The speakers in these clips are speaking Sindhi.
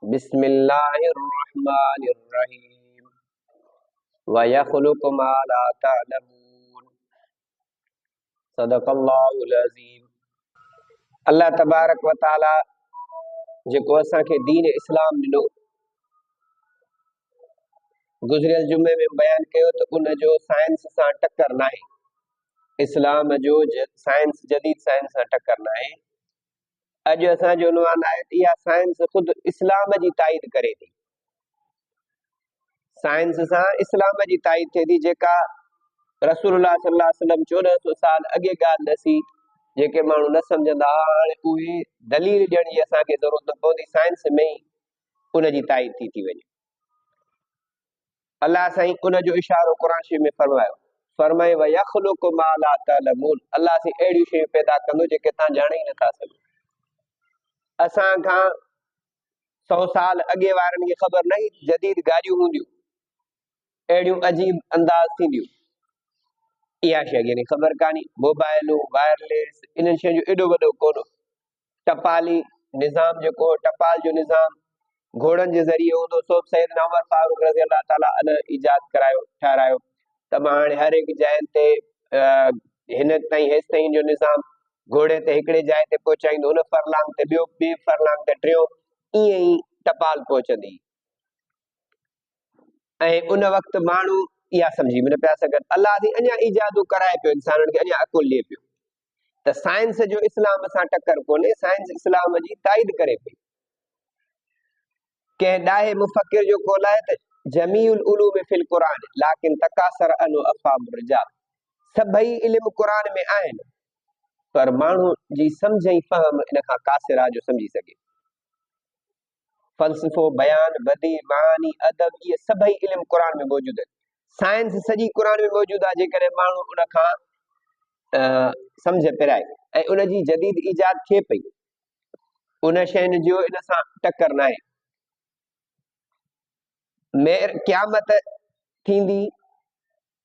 بسم الله الرحمن الرحيم ويخلق ما لا تعلمون صدق الله العظيم الله تبارک وتعالى جيڪو اسان کي دين اسلام ڏنو گذريل جمعي ۾ بيان ڪيو ته ان جو سائنس سان ٽڪر ناهي اسلام جو سائنس جديد سائنس سان ٽڪر ناهي اڄ اسان جو عنوان آهي ته اها سائنس خود اسلام جي تائيد ڪري ٿي سائنس سان اسلام جي تائيد ٿئي ٿي جيڪا رسول الله صلي الله عليه وسلم چوڏهن سو سال اڳي ڳالهه نه سي جيڪي ماڻهو نه سمجهندا هئا هاڻي اهي دليل ڏيڻ جي اسان کي ضرورت نه پوندي سائنس ۾ ئي ان جي تائيد ٿي ٿي وڃي الله سائين ان جو اشارو قرآن شريف ۾ فرمايو فرمائي ويخلق ما لا تعلمون الله سائين اهڙيون شيون پيدا ڪندو جيڪي تان ڄاڻي نه ٿا سگهو اسان کان سو سال اڳي وارن کي خبر نه هئي جديد گاڏيون هونديون اهڙيون عجيب انداز ٿينديون اها شي اڳي خبر ڪاني موبائلون وائرليس انهن شين جو ايڏو وڏو ڪونو ٽپالي نظام جيڪو هو ٽپال جو نظام گهوڙن جي ذريعي هوندو سو به سيدنا عمر فاروق رضي الله تعالٰي عنه ايجاد ڪرايو ٺهرايو ته مان هاڻي هر هڪ جاين تي هن تائين هيس تائين جو نظام گهوڙي تي هڪڙي جاء تي پهچائيندو هن فرلانگ تي ٻيو ٻي فرلانگ تي ٽيو ائين ئي ٽپال پهچندي ۽ ان وقت ماڻهو اها سمجهي به نه پيا سگهن الله سي اڃا ايجادون ڪرائي پيو انسانن کي اڃا عقل ڏي پيو ته سائنس جو اسلام سان ٽڪر ڪونهي، سائنس اسلام جي تائيد ڪري پئي. ڪنهن ڏاهي مفڪر جو قول آهي ته جميع العلوم في القرآن لكن تڪاثر عنه افهام الرجال سڀئي علم قرآن ۾ آهن پر ماڻهو جي سمجھ ۽ فهم ان کان قاصر آهي جو سمجھي سگھي فلسفو، بيان، بديع، معاني، ادب اهي سڀئي علم قرآن ۾ موجود آهن. سائنس سڄي قرآن ۾ موجود آهي جيڪڏهن ماڻهو ان کان سمجهه پرائي ۽ ان جي جديد ايجاد ٿئي پئي ان شين جو ان سان ٽڪر نه آهي مير قيامت ٿيندي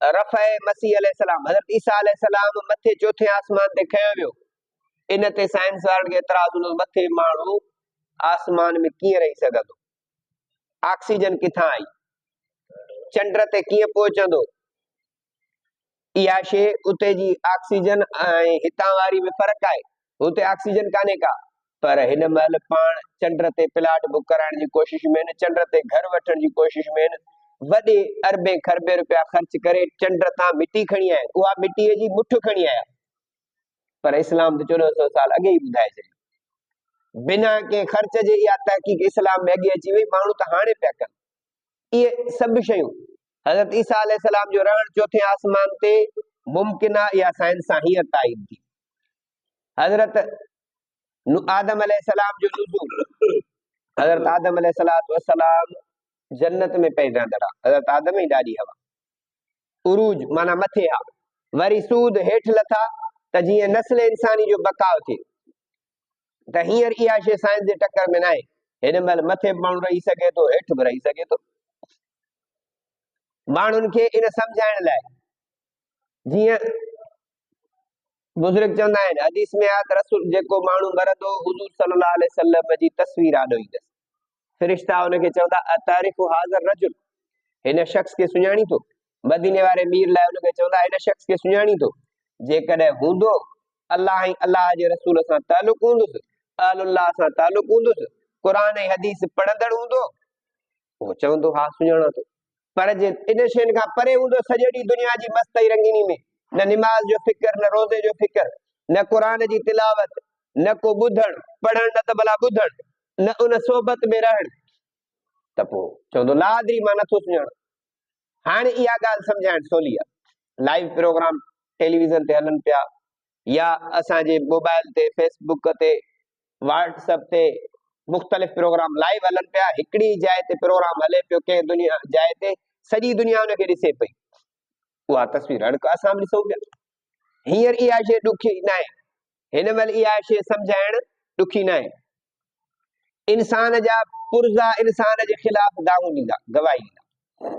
رفع مسيح عليه السلام حضرت عيسيٰ عليه السلام مٿي چوٿين آسمان تي کنيو ويو ان تي سائنس وارن کي اعتراض هوندو مٿي ماڻهو آسمان ۾ ڪيئن رهي سگهندو آڪسيجن ڪٿان آئي چنڊ تي ڪيئن پهچندو اها شي اتي جي آڪسيجن ۽ هتان واري ۾ فرق آهي هتي آڪسيجن ڪانهي ڪا. پر هن مهل پاڻ چنڊ تي پلاٽ بڪ ڪرائڻ جي ڪوشش ۾ آهن، چنڊ تي گهر وٺڻ جي ڪوشش ۾ آهن، وڏي اربين کربين رپيا خرچ ڪري چنڊ تان مٽي کڻي آيا آهن، اها مٽيء جي مٺ کڻي آيا. پر اسلام ته چوڏهن سؤ سال اڳي ئي ٻڌائي ڇڏيو. بنا ڪنهن خرچ جي اها تحقيق اسلام ۾ اڳي اچي وئي، ماڻهو ته هاڻي پيا ڪن. اهي سڀ شيون حضرت عيسيٰ عليه السلام جو رهڻ چوٿين آسمان تي ممڪن آهي اها سائنس سان هينئر تائيد ٿي. حضرت آدم عليه السلام جو نزول حضرت آدم عليه السلام جنت ۾ پئي رهندڙ آهي حضرت آدم ئي ڏاڏي هوا عروج معنی مٿي آ وري سود هيٺ لٿا ته جيئن نسل انساني جو بقاء ٿئي ته هينئر اها شيء سائنس جي ٽڪر ۾ ناهي. هن مهل مٿي به ماڻهو رهي سگهي ٿو، هيٺ به رهي سگهي ٿو. ماڻهن کي ان سمجهائڻ لاء جيئن بزرگ چوندا آهن، حديث ۾ آيت رسول جيڪو ماڻهو مرندو حضور صلي الله عليه وسلم جي تصوير آڏو ايندس. فرشتا ان کي چوندا اتعرف هذا الرجل هن شخص کي سڃاڻي ٿو مديني واري مير لاء ان کي چوندا هن شخص کي سڃاڻي ٿو جيڪڏهن هوندو الله ۽ الله جي رسول سان تعلق هوندس اهل الله سان تعلق هوندس قرآن ۽ حديث پڙهندڙ هوندو اهو چوندو ها سڃاڻان ٿو پر جي انهن شين کان پري هوندو سڄيڙي دنيا جي مست ۽ رنگيني ۾ نه نماز جو فڪر نه روزي جو فڪر نه قرآن جي تلاوت نه ڪو ٻڌڻ پڙهڻ نه ته ڀلا ٻڌڻ نه ان صحبت ۾ رهڻ ته پوء چوندو لا ادري مان نٿو سڃاڻان هاڻي اها ڳالهه سمجهائڻ سولي آهي لائيو پروگرام ٽيليويزن تي هلن پيا يا اسان جي موبائل تي فيس بوڪ تي واٽس اپ تي مختلف پروگرام لائيو هلن پيا هڪڙي جاء تي پروگرام هلي پيو ڪنهن دنيا جاء تي سڄي دنيا ان کي ڏسي پئي اها تصوير هاڻي اسان به ڏسون پيا هينئر اها شي ڏکي نه آهي هن مهل اها شي سمجهائڻ ڏکي نه آهي انسان جا پرزا انسان جي خلاف داغون ڏيندا گواهي ڏيندا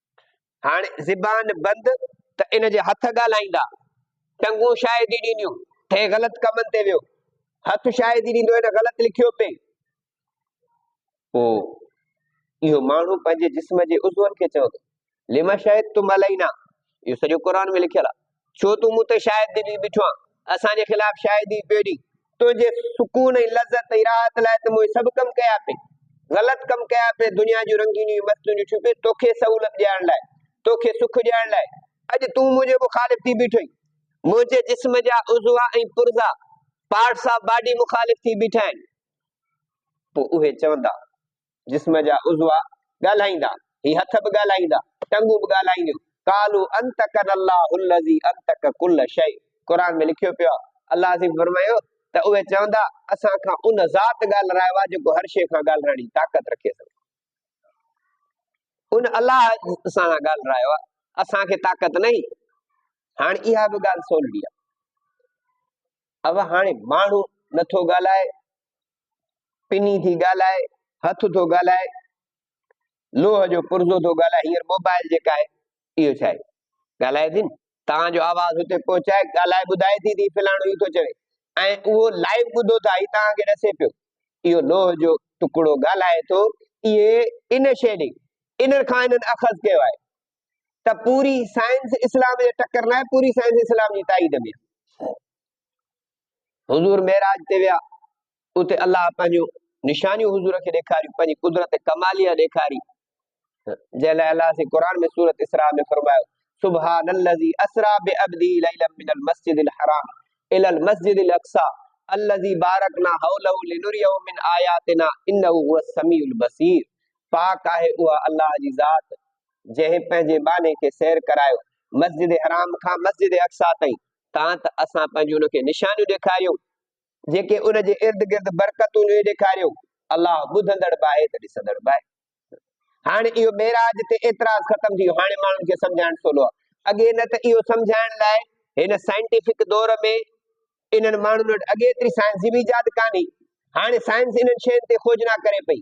هاڻي زبان بند ته ان جي هٿ ڳالهائيندا، ٽنگون شاهدي ڏينديون ته هي غلط ڪمن تي ويو، هٿ شاهدي ڏيندو هن غلط لکيو پئي. پوء اهو ماڻهو پنهنجي جسم جي عضون کي چوندو لما شاهد تم علينا اهو سڄو قرآن ۾ لکيل آهي ڇو تون مون تي شايد دلي بيٺو آن، اسان جي خلاف شاهدي پيو ڏين. تنهنجي سڪون ۽ لذت ۽ راحت لاء ته مون هي سڀ ڪم ڪيا پي. غلط ڪم ڪيا پي، دنيا جون رنگينيون ۽ مستيون ڏٺيون پي، توکي سهولت ڏيارڻ لاء، توکي سک ڏيارڻ لاء. اڄ تون منهنجي مخالف ٿي بيٺو آهين. منهنجي جسم جا عضوا ۽ پرزا، Parts of Body، مخالف ٿي بيٺا آهن. پوء اهي چوندا جسم جا عضوا ڳالهائيندا، هي هٿ به ڳالهائيندا، ٽنگون به ڳالهائينديون، قالو انطقنا الله الذي انطق كل شيء قرآن ۾ لکيو پيو آهي، الله عظيم فرمايو ته اهي چوندا اسان کان ان ذات ڳالهرايو آهي جيڪو هر شيء کان ڳالهرائڻ جي طاقت رکي ٿو. ان الله اسان سان ڳالهرايو آهي، اسان کي طاقت ناهي. هاڻي اها به ڳالهه سولڙي آهي. اوهان هاڻي ماڻهو نٿو ڳالهائي، پني ٿي ڳالهائي، هٿ ٿو ڳالهائي، لوهه جو پرزو ٿو ڳالهائي، هينئر موبائل جيڪا آهي اهو ڇا آهي ڳالهائي ٿي نه، توهان جو آواز هتي پهچائي ڳالهائي ٻڌائي ٿي ته فلاڻو هي ٿو چوي ۽ اهو لائيو ٻڌو ٿا هي توهان کي ڏسي پيو اهو لوهه جو ٽڪڙو ڳالهائي ٿو اهي ان شيڊنگ ان کان انهن اخذ ڪيو آهي ته پوري سائنس اسلام جي ٽڪر ناهي پوري سائنس اسلام جي تائيد ۾ حضور معراج تي ويا اتي الله پنهنجون نشانيون حضور کي ڏيکاريون پنهنجي قدرت ڪماليه ڏيکاري جنهن لاء الله سي قرآن ۾ سورت اسراء ۾ فرمايو سبحان الذي اسرا بعبده ليلا من المسجد الحرام الى المسجد الاقصى الذي باركنا حوله لنريه من آياتنا انه هو السميع البصير پاڪ آهي اها الله جي ذات جنهن پنهنجي باني کي سير ڪرايو مسجد حرام کان مسجد اقصا تائين تان ته اسان پنهنجون ان کي نشانيون ڏيکاريون جيڪي ان جي ارد گرد برڪتون جون ڏيکاريون. الله ٻڌندڙ به آهي ته ڏسندڙ به آهي. هاڻي اهو معراج تي اعتراض ختم ٿي ويو. هاڻي ماڻهن کي سمجهائڻ سولو آهي. اڳي نه ته اهو سمجهائڻ لاء هن سائنٽيفڪ دور ۾ انهن ماڻهن وٽ اڳي ايتري سائنس جي به ايجاد ڪانهي. هاڻي سائنس انهن شين تي کوجنا ڪري پئي.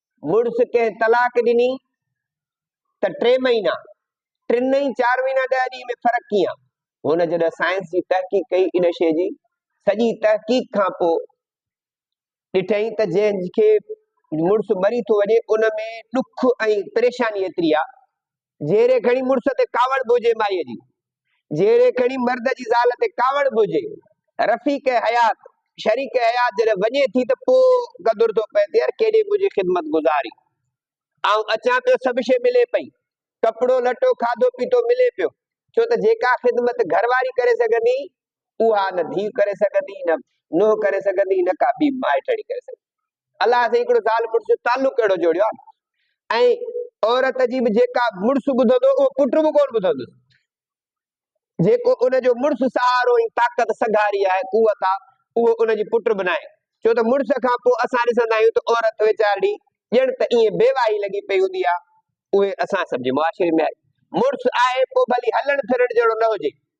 مڙس ڪنهن طلاق ڏني ته ٽي مهينا، ٽن ۽ چار مهينا ڏهه ڏينهن ۾ فرق ڪيئن؟ هن جڏهن سائنس جي تحقيق ڪئي ان شيء جي سڄي تحقيق کان پوء ڏٺئين ته جنهن کي مڙس مري ٿو وڃي ان ۾ ڏک ۽ پريشاني ايتري آهي جيري کڻي مڙس تي ڪاوڙ به هجي مائيء جي، جيري کڻي مرد جي زال تي ڪاوڙ به هجي. رفيق حيات، شريڪ حيات جڏهن وڃي ٿي ته پوء قدر ٿو پئي ته يار ڪيڏي منهنجي خدمت گذاري. آئون اچان پيو سڀ شيء ملي پئي. ڪپڙو لٽو، کاڌو پيتو ملي پيو. ڇو ته جيڪا خدمت گهر واري ڪري سگهندي اها نه ڌيء ڪري سگهندي نه نوهه ڪري سگهندي نه ڪا ٻي مائٽڻي ڪري سگهندي الله سائين هڪڙو زال مڙس جو تعلق اهڙو جوڙيو آهي ۽ عورت جي به جيڪا مڙس ٻڌندو اهو پٽ به ڪونه ٻڌندو جيڪو ان جو مڙس سهارو ۽ طاقت سگهاري آهي قوت آهي اهو ان جي پٽ به ناهي ڇو ته مڙس کان پوء اسان ڏسندا آهيون ته عورت ويچاري ڄڻ ته ائين بي واهي لڳي پئي هوندي آهي اهي اسان سڀ جي معاشري ۾ آهي مڙس آهي پوء ڀلي هلڻ ڦرڻ جهڙو نه هجي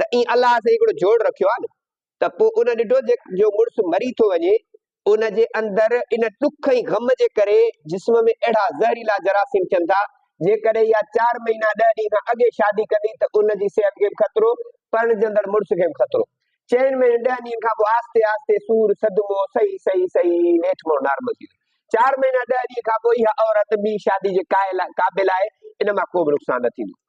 ته اي الله سائين هڪڙو جوڙ رکيو آهي نه ته پوء ان ڏٺو جو مڙس مري ٿو وڃي ان جي اندر ان ڏک ۽ غم جي ڪري جسم ۾ اهڙا زهريلا جراثيم ٿين ٿا جيڪڏهن اها چار مهينا ڏهه ڏينهن کان اڳي شادي ڪندي ته ان جي صحت کي به خطرو پرڻجندڙ مڙس کي به خطرو چئن مهينن ڏهن ڏينهن کان پوء آهستي آهستي سور صدمو صحيح صحيح صحيح نيٺ مڙو نارمل ٿي ويندو چار مهينا ڏهه ڏينهن کان پوء اها عورت ٻي شادي جي قابل آهي ان مان ڪو به نقصان نه ٿيندو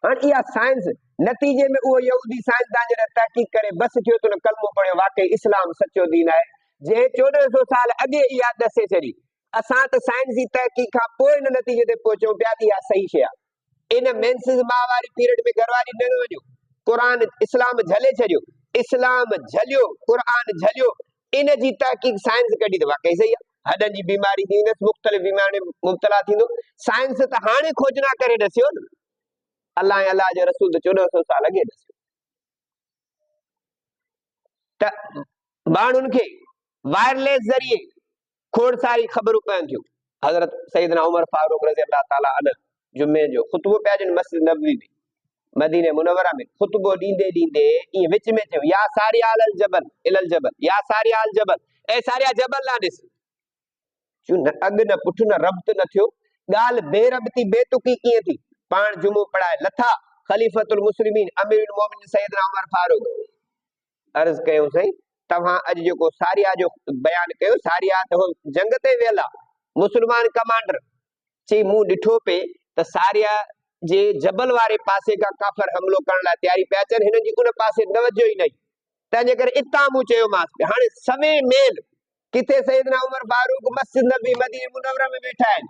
هاڻ اها سائنس، نتيجي ۾ اهو يهودي سائنسدان جڏهن تحقيق ڪري بس ٿيو ته ان ڪلمو پڙهيو واقعي اسلام سچو دين آهي، جنهن چوڏهن سو سال اڳي اها ڏسي ڇڏي. اسان ته سائنسي تحقيق کان پوء ان نتيجي تي پهچون پيا ته اها صحيح شيء آهي. ان مينسز ماء واري پيرڊ ۾ گهر واري نه وڃو. قرآن اسلام جهلي ڇڏيو. اسلام جهليو، قرآن جهليو، ان جي تحقيق سائنس ڪڍي ته واقعي صحيح آ. هڏن جي بيماري ٿيندي تس مختلف بيمارين ۾ مبتلا ٿيندو. سائنس ته هاڻي کوجنا ڪري ڏسيو نه. الله ۽ الله جو رسول ته چوڏهن سو سال اڳي ڏسيو. ته ماڻهن کي وائرليس ذريعي کوڙساري خبرون پين ٿيون. حضرت سيدنا عمر فاروق رضي الله تعالٰي عنه جمعي جو خطبو پيا ڏين مسجد نبوي ۾، مدينه منوره ۾، خطبو ڏيندي ڏيندي ائين وچ ۾ چيو، يا ساري آل الجبل الي الجبل، يا ساري آل جبل، اي ساريا جبل ڏانهن ڏس. چيو نه اڳ نه پٺ نه ربط نه ٿيو، ڳالهه بي ربطي بي تڪي ڪيئن ٿي. پاڻ جمعو پڙهائي لٿا، خليفة المسلمين امير المومنين سيدنا عمر فاروق عرض ڪيو سائين توهان اڄ جيڪو ساريا جو بيان ڪيو ساريا ته هو جنگ تي ويل آ مسلمان ڪمانڊر چي مون ڏٺو پي ته ساريا جي جبل واري پاسي کان ڪافر حملو ڪرڻ لاء تياري پيا اچن هنن جي ان پاسي توجه ئي نه هئي تنهن جي ڪري اتان مون چيومانس ته هاڻي سوي ميل ڪٿي سيدنا عمر فاروق مسجد نبي مدينه منوره ۾ ويٺا آهن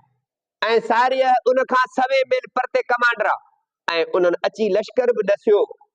۽ ساريا ان کان سوي ميل پرتي ڪمانڊر آ ۽ انهن اچي لشڪر به ڏسيو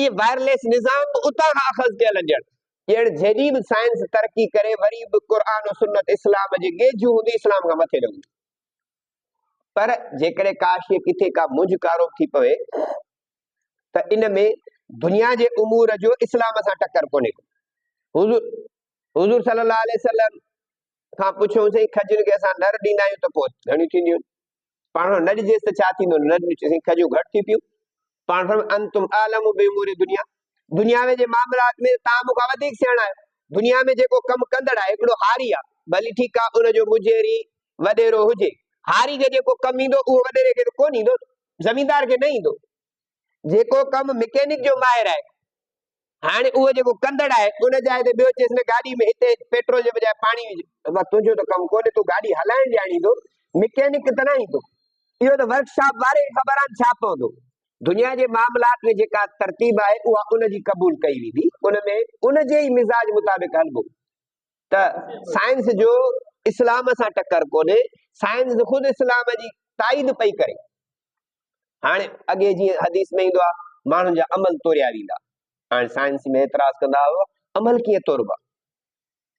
اهي وائرليس نظام به اتان کان اخذ ڪيل هجن. ڄڻ جيڏي به سائنس ترقي ڪري وري به قرآن و سنت اسلام جي گيجهون هوندي اسلام کان مٿي نه هوندي. پر جيڪڏهن ڪاش جي ڪٿي ڪا منجهه ڪاروب ٿي پوي ته ان ۾ دنيا جي امور جو اسلام سان ٽڪر ڪونهي ڪو. حضور حضور صلي الله عليه وسلم کان پڇيو سائين کجين کي اسان نر ڏيندا آهيون ته پوء ڌڻيون ٿينديون. پاڻ نه ڏجيس ته ڇا ٿيندو نه ڏجيس سائين کجون گهٽ ٿي پيون پاڻ فرم انتم عالم بي امور دنيا دنيا ۾ جي معاملات ۾ تان مون کان وڌيڪ سياڻا آهيو دنيا ۾ جيڪو ڪم ڪندڙ آهي هڪڙو هاري آهي ڀلي ٺيڪ آهي ان جو مجيري وڏيرو هجي هاري کي جيڪو ڪم ايندو اهو وڏيري کي ته ڪونه ايندو زميندار کي نه ايندو جيڪو ڪم مڪينڪ جو ماهر آهي. هاڻي اهو جيڪو ڪندڙ آهي، ان جاء تي ٻيو چيس نه گاڏي ۾ هتي پيٽرول جي بجاء پاڻي وجهه. بابا تنهنجو ته ڪم ڪونهي، تون گاڏي هلائڻ ڄاڻيندو، مڪينڪ ته نه آهين تون. اهو ته ورڪ شاپ واري کي خبر آهن ڇا پوندو. دنيا جي معاملات ۾ جيڪا ترتيب آهي، اها ان جي قبول ڪئي ويندي. ان ۾ ان جي ئي مزاج مطابق هلبو. ته سائنس جو اسلام سان ٽڪر ڪونهي، سائنس خود اسلام جي تائيد پئي ڪري. هاڻي اڳي جيئن حديث ۾ ايندو آهي ماڻهن جا عمل توريا ويندا هاڻي سائنس ۾ اعتراض ڪندا هئا عمل ڪيئن توربا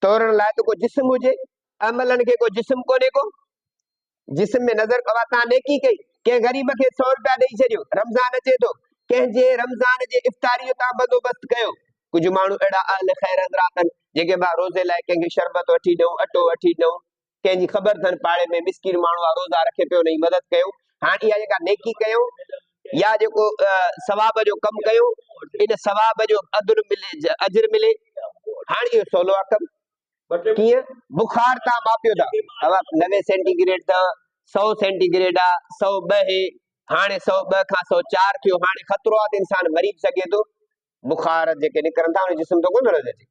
تورڻ لاء ته ڪو جسم هجي عملن کي ڪو جسم ڪونهي ڪو جسم ۾ نظر ڪبا تان نيڪي ڪئي ڪنهن غريب کي سو روپيا ڏيئي ڇڏيو رمضان اچي ٿو ڪنهن جي رمضان جي افطاري تان بندوبست ڪيو ڪجهه ماڻهو اهڙا اهل خير حضرات آهن جيڪي روزي لاء ڪنهن کي شربت وٺي ڏيون اٽو وٺي ڏيون ڪنهن جي خبر اٿن پاڙي ۾ مسڪين ماڻهو آ روزا رکي پيو انهي جي مدد ڪيو هاڻ اها جيڪا نيڪي ڪيو يا جيڪو ثواب جو ڪم ڪيو ان ثواب جو اجر ملي اجر ملي هاڻ اهو سولو آ ڪم ڪيئن بخار تان ماپيو ٿا نوي سينٽي گريڊ تان سو سينٽي گريڊ آ سو ٻه هي هاڻي سو ٻه کان سو چار ٿيو هاڻي خطرو آ ته انسان مري به سگهي ٿو بخار جيڪي نڪرن ٿا ان جسم ته ڪونه رهندي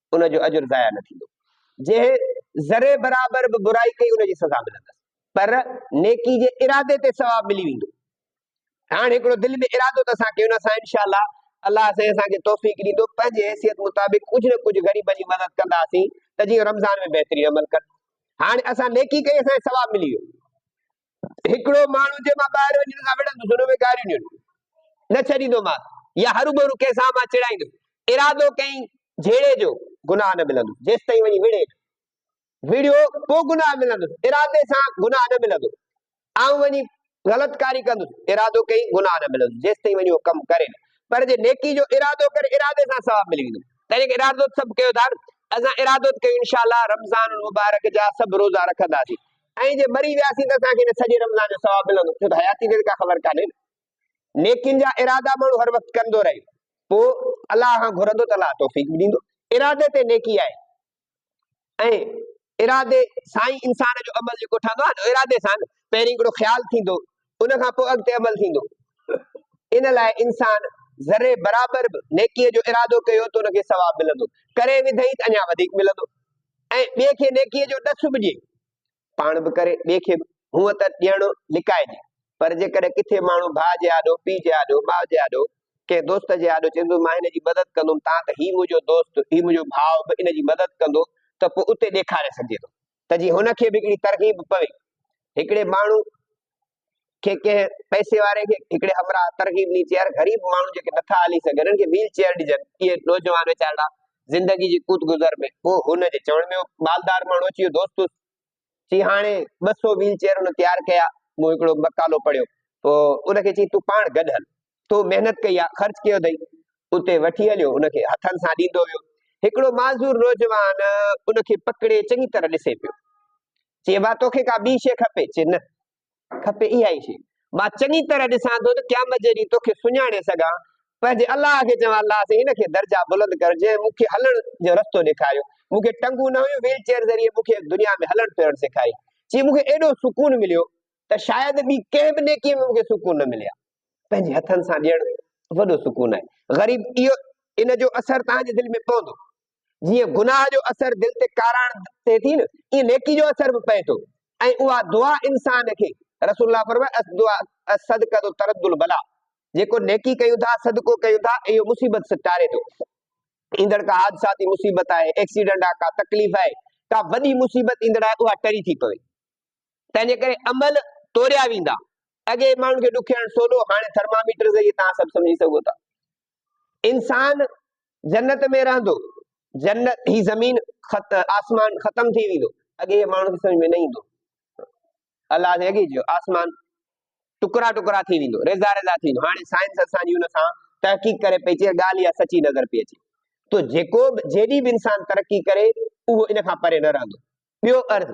ان جو اجر ضايع نه ٿيندو. جنهن ذري برابر به برائي ڪئي ان جي سزا ملندس پر نيڪي جي ارادي تي ثواب ملي ويندو. هاڻ هڪڙو دل ۾ ارادو ته اسان ڪيون اسان انشاء الله الله سائين اسان کي توفيق ڏيندو پنهنجي حيثيت مطابق ڪجهه نه ڪجهه غريبن جي مدد ڪنداسين ته جيئن رمضان ۾ بهترين عمل ڪن هاڻ اسان نيڪي ڪئي اسان کي ثواب ملي ويو هڪڙو ماڻهو جنهن مان ٻاهر وڃڻ کان وڙهندس ان ۾ گاريون ڏيڻ نه ڇڏيندومانس يا هروڀرو ڪنهن سان مان چڙائيندس ارادو ڪئين جهيڙي جو گناهه نه ملندس جيستائين وڃي وڙهي نه وڙهيو پوء گناهه ملندس ارادي سان گناهه نه ملندو آئون وڃي غلط ڪاري ڪندس ارادو ڪئين گناهه نه ملندس جيستائين وڃي اهو ڪم ڪري نه پر جي نيڪي جو ارادو ڪري ارادي سان ثواب ملي ويندو تنهن ڪري ارادو سڀ ڪيو ٿا اسان ارادو ڪيون انشاءالله رمضان المبارڪ جا سڀ روزا رکنداسين ۽ جي مري وياسين ته اسان کي ان سڄي رمضان جو ثواب ملندو ڇو ته حياتي جي ته ڪا خبر ڪانهي نه. نيڪين جا ارادا ماڻهو هر وقت ڪندو رهي پوء الله کان گهرندو ته الله توفيق به ڏيندو. ارادي تي نيڪي آهي ۽ ارادي سان ئي انسان جو عمل جيڪو ٺهندو آهي نه ارادي سان پهرين هڪڙو خيال ٿيندو ان کان پوء اڳتي عمل ٿيندو. ان لاء انسان ذري برابر به نيڪيء جو ارادو ڪيو ته ان کي ثواب ملندو، ڪري وڌئي ته اڃا وڌيڪ ملندو ۽ ٻئي کي نيڪيء جو ڏس به ڏئي، پاڻ به ڪري، ٻئي کي به. هونء ته ڏيڻ لڪائجي، پر جيڪڏهن ڪٿي ماڻهو ڀاء جي آڏو، پيء جي آڏو، ماء جي آڏو، ڪنهن دوست جي آڏو چوندو مان هن جي مدد ڪندم تان ته هي منهنجو دوست، هي منهنجو ڀاء به ان جي مدد ڪندو ته پوء اتي ڏيکاري سگهجي ٿو. ته جي هن کي به هڪڙي ترغيب پوي. هڪڙي ماڻهو کي ڪنهن پئسي واري کي هڪڙي همراهه ترغيب ڏني چي يار غريب ماڻهو جيڪي نٿا هلي سگهن انهن کي ويل چيئر ڏجن. اهي نوجوان ويچارڙا زندگي جي ڪوت گذر ۾ پوء هن جي چوڻ ۾ اهو مالدار ماڻهو اچي ويو دوست چي هاڻي ٻه سؤ ويل چيئر هن تيار ڪيا مون هڪڙو مقالو پڙهيو پوء ان کي چي تون پاڻ گڏ هل. تو محنت ڪئي آ، خرچ ڪيو اٿئي، اتي وٺي هليو ان کي هٿن سان ڏيندو ويو. هڪڙو معذور نوجوان ان کي پڪڙي چڱي طرح ڏسي پيو. چي ابا توکي ڪا ٻي شيء کپي؟ چي نه، کپي اها ئي شيء. مان چڱي طرح ڏسان ٿو ته قيامت جي ڏينهن توکي سڃاڻي سگهان. پنهنجي الله کي چوان الله سائين هن کي درجا بلند ڪر جنهن مون کي هلڻ جو رستو ڏيکاريو. مون کي ٽنگون نه هيون، ويل چيئر ذريعي مون کي دنيا ۾ هلڻ ڦرڻ سيکاريائين. چي مون کي ايڏو سڪون مليو ته شايد ٻي ڪنهن به نيڪيء ۾ مون کي سڪون نه ملي ها. پنهنجي هٿن سان ڏيڻ وڏو سڪون آهي. غريب اهو ان جو اثر توهان جي دل ۾ پوندو. جيئن گناهه جو اثر دل تي ڪاراڻ ٿئي ٿي نه ايئن نيڪي جو اثر به پئي ٿو ۽ اها دعا انسان کي رسول الله فرمايو الدعاء الصدقه ترد البلا جيڪو نيڪي ڪيون ٿا صدقو ڪيون ٿا اهو مصيبت سان ٽاري ٿو ايندڙ ڪا حادثاتي مصيبت آهي ايڪسيڊنٽ آهي ڪا تڪليف آهي ڪا وڏي مصيبت ايندڙ آهي اها ٽري ٿي پوي تنهن جي ڪري عمل توريا ويندا. اڳي ماڻهن کي ڏکيائڻ سولو هاڻي ٿرماميٽر ذريعي توهان سڀ سمجهي سگهو ٿا. انسان جنت ۾ رهندو. جنت هي زمين آسمان ختم ٿي ويندو. اڳي هي ماڻهن کي سمجهه ۾ نه ايندو. الله سائين اڳي چيو آسمان ٽڪرا ٽڪرا ٿي ويندو ريزا ريزا ٿي ويندو هاڻي سائنس اسان جي ان سان تحقيق ڪري پئي چي ڳالهه اها سچي نظر پئي اچي تو جيڪو به جيڏي به انسان ترقي ڪري اهو ان کان پري نه رهندو ٻيو عرض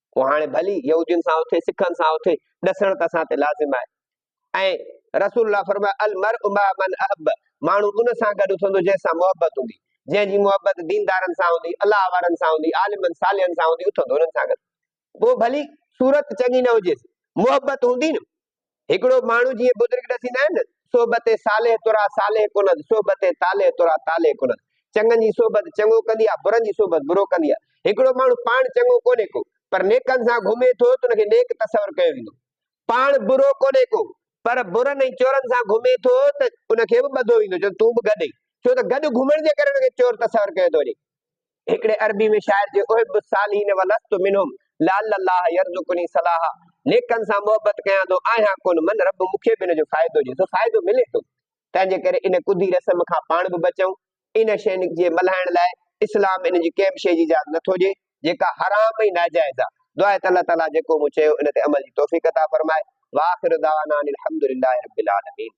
هو هاڻي ڀلي يهودين سان اٿي سکن سان اٿي ڏسڻ ته اسان تي لازم آهي ۽ رسول الله فرمايو المرء مع من احب ماڻهو ان سان گڏ اٿندو جنهن سان محبت هوندي جنهن جي محبت ديندارن سان هوندي الله وارن سان هوندي عالمن صالحن سان هوندي اٿندو انهن سان گڏ پوء ڀلي صورت چڱي نه هجيس محبت هوندي نه هڪڙو ماڻهو جيئن بزرگ ڏسيندا آهن نه، صحبت صالح ترا صالح ڪند، صحبت طالح ترا طالح ڪند. چڱن جي صحبت چڱو ڪندي آهي، برن جي صحبت برو ڪندي آهي. هڪڙو ماڻهو پاڻ چڱو ڪونهي ڪو، پر نيڪن سان گهمي ٿو ته ان کي نيڪ تصور ڪيو ويندو. پاڻ برو ڪونهي ڪو، پر برن ۽ چورن سان گهمي ٿو ته ان کي به ٻڌو ويندو، چوندو تون به گڏ اچ، ڇو ته گڏ گهمڻ جي ڪري ان کي چور تصور ڪيو ٿو وڃي. هڪڙي عربي ۾ شاعر جي احب الصالحين ولست منهم لعل الله يرزقني صلاحا نيڪن سان محبت ڪيان ٿو آهيان ڪونه من رب مون کي به ان جو فائدو ڏي سو فائدو ملي ٿو تنهن جي ڪري ان ڪڌي رسم کان پاڻ به بچون ان شين جي ملهائڻ لاء اسلام ان جي ڪنهن به شي جي اجازت نٿو ڏي جيڪا حرام ۽ ناجائز آهي دعا ته الله تعاليٰ جيڪو مون چيو ان تي عمل جي توفيق عطا فرمائي واخر دعوانا ان الحمد لله رب العالمين